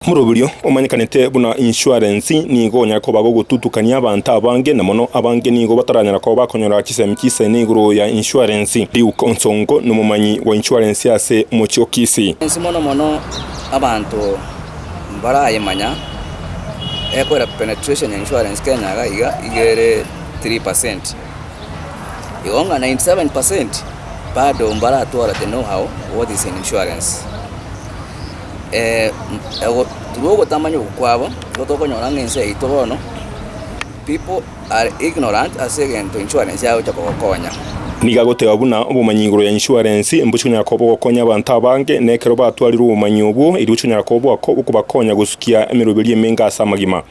Moroberio omanyekanete buna insuarensi nigo onyare koba gogotutukania abanto abange, na mono abange nigo bataranyara koba bakonyora chisemi chisene igoro ya insuarensi. Luke Onsongo nomomanyi bwa insuarensi ase omochie o Kisii. Insuarensi mono mono abanto mbarayemanya ekorera penetration ya insuarensi Kenya iga iga iga ere three percent. Igo ng'a ninety seven percent bado mbaratwara the know how what is in insuarensi. ogo through ogotamanya okwo kwabo, nigo tokonyora ng'a ense yaito bono people are ignorant ase egento insurance yagocha kogokonya. Nigo agoteba buna obomanyi igoro ya insurance mbosi konyara koba ogokonya abanto abange, na ekero batwarirwe obomanyi obwo, erio gocha onyare koba oboako okobakonya gosukia emeroberio emenge ase amagima.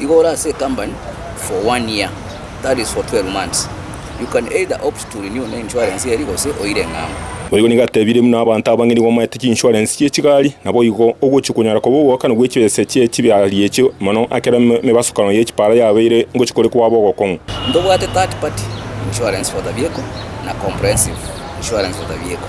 Igo ore ase ecompany for one year, that is for twelve months. You can either opt to renew na insurance eri gose oire eng'ambo. Boigo nigo atebirie buna abanto abange nigo bamaete chinsurance chie chigari, naboigo ogochia konyara koba ogoakana gwe chibesa chie chibihari echio mono ekero emebasokano ye chipara yabeire ngochia kore kwaba ogokong'u. Ntobwate third party insurance for the vehicle na comprehensive insurance for the vehicle.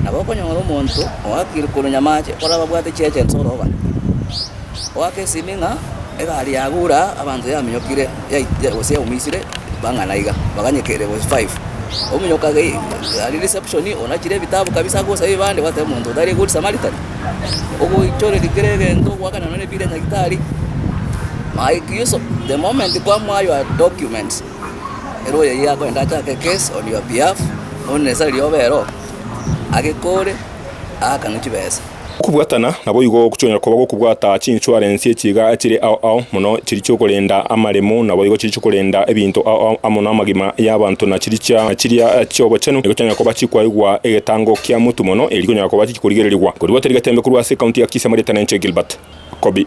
Nabo okonyora omonto oakire korwa nyamache orababwate chiacha inse orooba, oaka esimi ng'a egari yagure aa abanto yaminyokire gose yaumisire bang'ana iga, baganyeka ere gose five. Ominyoka aria reception onachire ebitabu kabisa agosabe ebibande gwateba omonto oyo tari good Samaritan. Ogoichoreri kera egento ogoakana nonye nebiire ya nyagetari. Mike Yuso, the moment kwamoaywa documents. Ere oyio akorente achake case on your behalf, onde nesa riria obe ero, agekore, aakane chibesa. Okobwatana naboigo gochia koba gokobwata chinsuarensi echiga chire ao ao mono chiria chiokorenda amaremo naboigo chiria chiokorenda ebinto ao ao amo namagima yabanto na chirichia chiria chiobochenu nigochia koba chikwaigwa egetango kia mutu mono eri konyara koba chikorigererigwa korigwa tari getembe korwa ase county ya Kisii amarieta nenche Gilbert Kobi.